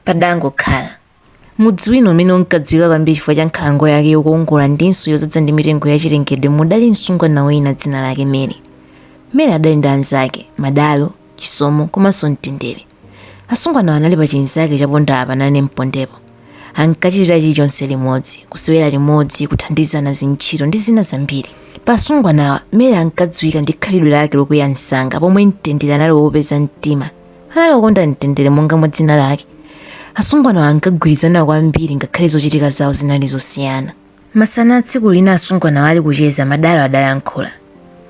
Padangokhala. Mudzi wina umene unkadziwika kwambiri chifukwa cha nkhalango yake yokongola ndinso yodzaza ndi mitengo yachilengedwe mudali msungwana wina dzina lake Mary. Mary adali ndi anzake, Madalo, Chisomo komanso Mtendere. Asungwanawa anali pa chinzake cha ponda apa nane mpondepo. Ankachitira chilichonse limodzi, kusewera limodzi, kuthandizana zintchito ndi zina zambiri. Pa asungwanawa, Mary ankadziwika ndi khalidwe lake lokwiya msanga pomwe Mtendere anali wofatsa mtima. anali wokonda mtendere monga mwa dzina lake asungwanawa ankagwirizana kwambiri ngakhale zochitika zawo zinali zosiyana masana tsiku lina asungwanawa ali kucheza madalo adayankhula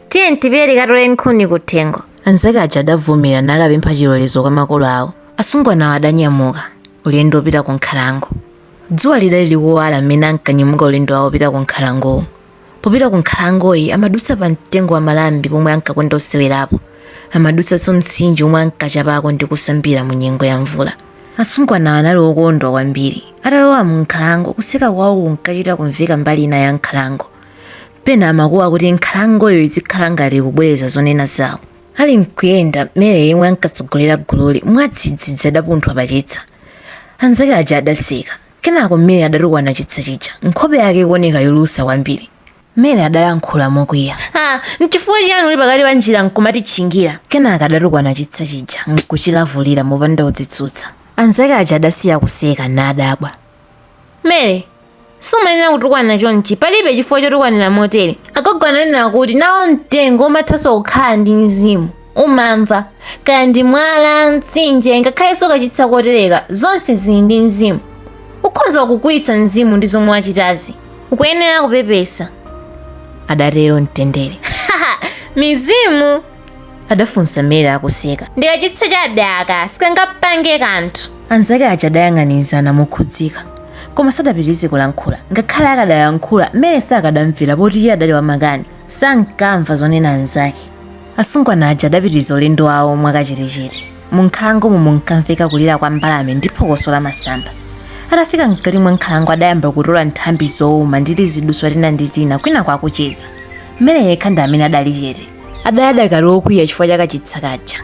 tiyeni tipite tikatole nkhuni kuthengo anzake aja adavomera nakapempha chilolezo kwa makolo awo asungwanawa adanyamuka ulendo wopita ku nkhalango dzuwa lidali likuwala mmene ankanyamuka ulendo wawo wopita ku nkhalangowu popita ku nkhalangoyi amadutsa pa mtengo wa malambi pomwe ankakonda kusewerapo amadutsanso mtsinje omwe ankachapako ndi kusambira mu nyengo ya mvula asungwanawa anali okondwa kwambiri atalowa mu nkhalango kuseka kwawo kunkachita kumveka mbali ina ya nkhalango pena amakuwa kuti nkhalangoyi izikhala ngati kubwereza zonena zawo ali nkuyenda mary yemwe ankatsogolera gululi mwadzidzidzi adapunthwa pachitsa anzake aja adaseka Kenako Mary adatukwana chitsa chija, nkhope yake ikuoneka yolusa kwambiri. Mary adalankhula mokwiya. Ah, n'chifukwa chiyani uli pakati pa njira nkumatitchingira? Kenaka adatukwana chitsa chija nkuchilavulira mopanda kudzitsutsa. Anzake aja adasiya kuseka nadabwa. Mary, sumayenera kutukwana chonchi palibe chifukwa chotukwanira motere agogo ananena kuti nawo mtengo umathanso kukhala ndi mzimu umamva kaya ndi mwala mtsinje ngakhalenso kachitsa kotereka zonse zili ndi mzimu ukhoza kukwiyitsa mzimu ndi zomwe wachitazi ukuyenera kupepesa adatero mtendere mizimu adafunsa mary akuseka ndikachitsa chabe aka sikangapange kanthu anzake aja adayang'anizana mokhudzidwa koma sadapitirize kulankhula ngakhale akadalankhula mary sakadamvera poti iye adali wamakani sankamva zonena anzake Asungwana aja adapitiriza ulendo wawo mwakachetechete. Munkhalangomo munkamveka kulira kwa mbalame ndi phokoso la masamba. Atafika mkati mwa nkhalango adayamba kutola nthambi zouma ndi tiziduswa tina ndi tina kwinaku akucheza. Mary yekha ndi amene adali chete. Adali adakali wokwiya chifukwa cha kachitsa kaja.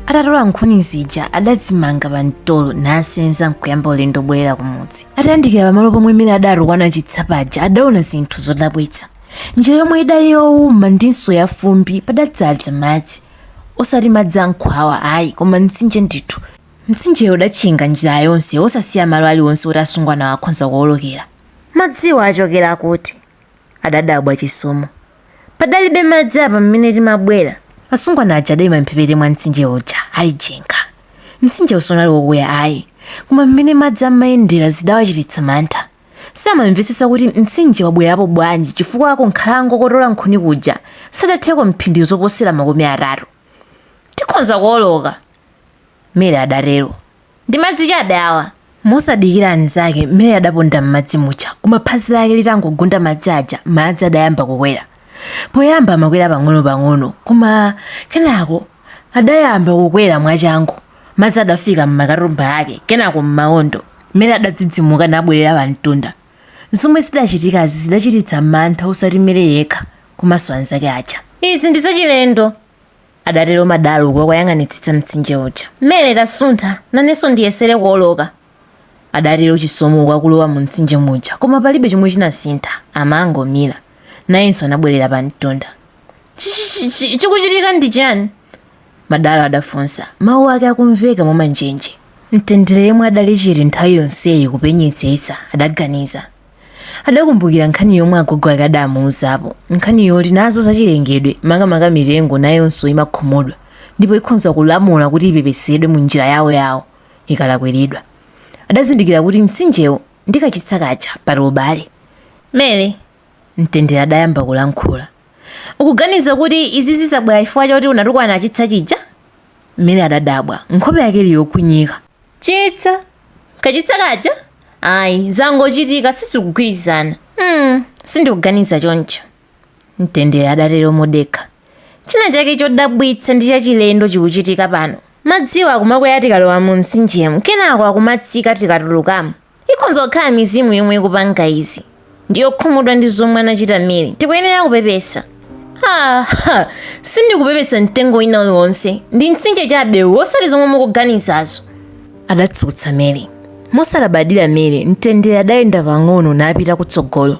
Atatola nkhuni zija adazimanga pa mtolo nasenza nkuyamba ulendo wobwerera kumudzi. Atayandikira pamalo pomwe Mary adatukwana chitsa paja adaona zinthu zodabwitsa. njira yomwe idali yowuma ndinso yafumbi padadzadza madzi osati madzi ankhwawa ayi koma mtsinje ndithu mtsinjeyo udatchinga njira yonse osasiya malo aliwonse oti asungwanawo akhonza kuwolokera madziwa achokera kuti adadabwa chisomo padalibe madzi apa mmene timabwera asungwana aja adaima mphepete mwa mtsinje uja ali jenga mtsinje sunali wokuya ayi koma mmene madzi amayendera zidawachititsa mantha samamvetsetsa kuti mtsinje wabwerapo bwanji chifukwa kunkhalango kotola nkhuni kuja sadatheko mphindi zoposera makumi atatu tikhonza kuoloka mary adatero ndi madzi chabe awa mosadikira anzake mary adaponda m'madzi muja koma phazi lake litangogunda madzi aja madzi adayamba kukwera poyamba amakwera pang'ono-pang'ono koma kenako adayamba kukwera mwachangu madzi adafika m'makatumba ake kenako m'maondo mary adadzidzimuka nabwerera pamtunda zomwe zidachitikazi zidachititsa mantha osati mary yekha komanso anzake aja izi ndi zachilendo adatero madalo uku akuyang'anitsitsa mtsinje uja mary tasuntha nanenso ndiyesere kuoloka Adatero Chisomo uku akulowa mumtsinje muja koma palibe chomwe chinasintha, amangomira. Nayenso anabwerera pamtunda. Chi-chi-chi-chi, chikuchitika ndi chani? Madalo adafunsa, mawu ake akumveka mwamanjenje. Mtendere yemwe adali chete nthawi yonseyi kupenyetsetsa, adaganiza. Adakumbukira nkhani yomwe agogo ake adamuuzapo, nkhani yoti nazo zachilengedwe, makamaka mitengo nayonso imakhumudwa ndipo ikhonza kulamula kuti ipepesedwe munjira yawoyawo. ikalakwiridwa adazindikira kuti mtsinjewu ndi kachitsa kaja pali ubale mary mtendere adayamba kulankhula ukuganiza kuti izi zabwera chifukwa choti unatukwana chitsa chija mary adadabwa nkhope yake ili yokwinyika chitsa kachitsa kaja ayi zangochitika sizikugwirizana mm, sindikuganiza choncho Mtendere adatero modekha. China chake chodabwitsa ndi chachilendo chikuchitika pano. Madziwa akumakwera tikalowa mumtsinjemu kenako akumatsika tikatulukamo. Ikhonza kukhala mizimu yomwe ikupanga izi. Ndiyokhumudwa ndi zomwe anachita Mary. Tikuyenera kupepesa. Ha! Ha! Sindikupepesa mtengo wina uliwonse. Ndi mtsinje chabe uwu osati zomwe mukuganizazo. Adatsutsa Mary. Mosalabadira Mary, Mtendere adayenda pang'ono napita kutsogolo.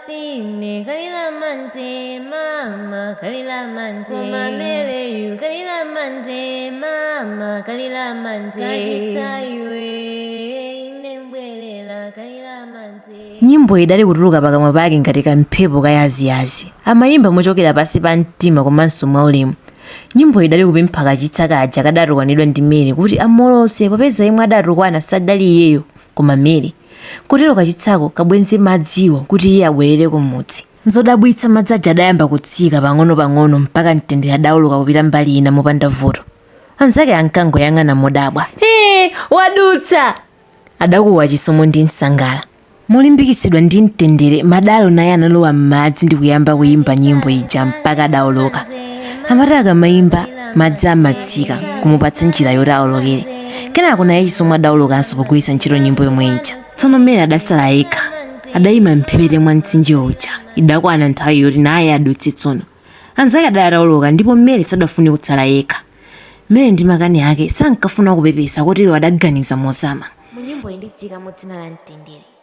sine kalila mante mama kalila mante koma mary yu kalila mante mama kalila mante kachitsa iwe nembwelela kalila mante nyimboyi idali kutuluka pakamwa pake ngati kamphepo kayaziyazi amayimba mochokera pansi pa mtima komanso mwaulemu nyimboyi idali kupempha kachitsa kaja kadatukwanidwa ndi mary kuti amuolotse popeza yemwe adatukwana sadali iyeyo koma mary Kotero kachitsako kabwenze madziwo kuti iye abwerere kumudzi. Nzodabwitsa madzi aja adayamba kutsika pang'onopang'ono mpaka Mtendere adaoloka kupita mbali ina mopanda vuto. Anzake ankangoyang'ana modabwa. Hee! Wadutsa! adakuwa Chisomo ndi nsangala. Molimbikitsidwa ndi Mtendere, Madalo naye analowa m'madzi ndi kuyamba kuyimba nyimbo ija mpaka adaoloka. Amati akamaimba, madzi amatsika, kumupatsa njira yoti aolokere. kenako naye chisomo adawolokanso pogwiritsa ntchito nyimbo yomwe ija tsono mary adasala yekha adayima mphepete mwa mtsinje uja idakwana nthawi yoti naye adutse tsono anzake adali atawoloka ndipo mary sadafune kutsala yekha mary ndi makani ake sankafuna kupepesa kotero adaganiza mozama munyimbo iyi ndidziikamo dzina la mtendere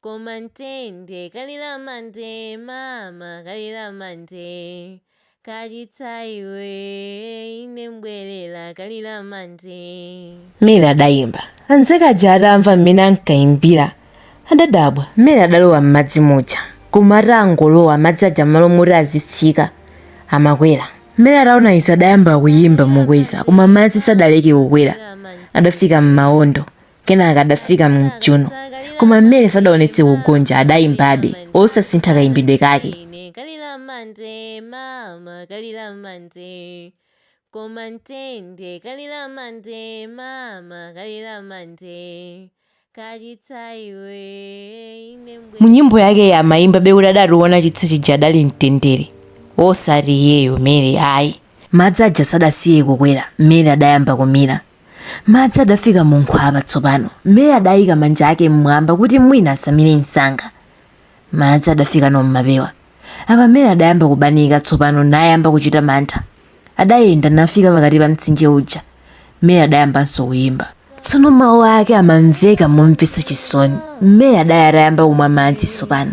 Koma Mtende kalira mande mama kalira mande kachitsa iwe ine mbwerera kalira mande Mary adayimba. Anzake aja atamva mmene ankayimbira adadabwa. Mary adalowa m'madzi muja koma atangolowa madzi aja m'malo moti azitsika amakwera. Mary ataona izi adayamba kuyimba mokweza koma madzi sadaleke kukwera. Adafika m'mawondo. Kenaka adafika m'chuno, koma Mary sadaonetse kugonja, adayimbabe, osasintha kayimbidwe kake. Ine kalira mande mama kalira mande Koma Mtende kalira mande mama kalira mande Kachitsa iwe ine mbwe Mu nyimbo yake iyi amayimbabe kuti adatukwana chitsa chija adali mtendere, osati iyeyo Mary ayi. Madzi aja sadasiye kukwera, Mary adayamba kumira. Madzi adafika mu nkhwapa tsopano. Mary adayika manja ake m'mwamba kuti mwina asamire msanga. Madzi adafikano m'mapewa. Apa Mary adayamba kubanika tsopano nayamba kuchita mantha. Adayenda nafika pakati pa mtsinje uja. Mary adayambanso kuyimba. Tsono mawu ake amamveka momvetsa chisoni. Mary adali atayamba kumwa madzi tsopano.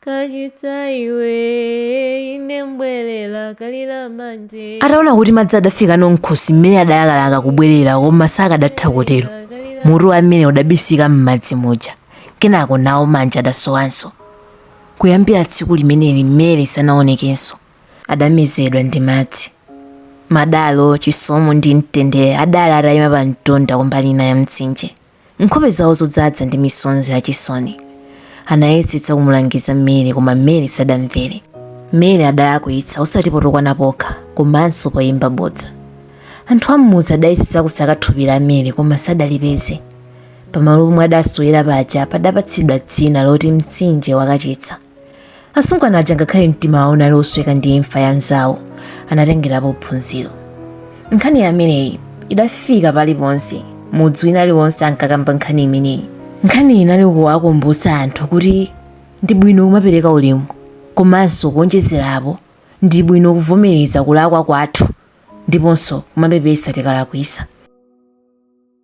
kachitsa iwe ine mbwerera kalira mande ataona kuti madzi adafikano mkhosi mary adalakalaka kubwerera koma sakadatha kutero mutu wa mary udabisika m'madzi muja kenako nawo manja adasowanso kuyambira tsiku limeneli mary sanaonekenso adamezedwa ndi madzi madalo chisomo ndi mtendere adali atayima pa mtunda kumbali ina ya mtsinje nkhope zawo zodzadza ndi misonzi yachisoni. Anayesetsa kumulangiza Mary koma Mary sadamvere. Mary adalakwitsa osati potukwana pokha komanso poyimba bodza. Anthu am'mudzi adayesetsa kusaka thupi la Mary koma sadalipeze. Pamalo pomwe adasowera paja padapatsidwa dzina loti mtsinje wakachitsa. asungwana aja ngakhale mtima wawo unali osweka ndi imfa ya mzawo anatengerapo phunziro nkhani yameneyi idafika paliponse mudzi wina aliwonse ankakamba nkhani imeneyi nkhani inali kuwakumbutsa anthu kuti ndi bwino kumapereka ulemu komanso kuonjezerapo ndi bwino kuvomereza kulakwa kwathu ndiponso kumapepesa tikalakwisa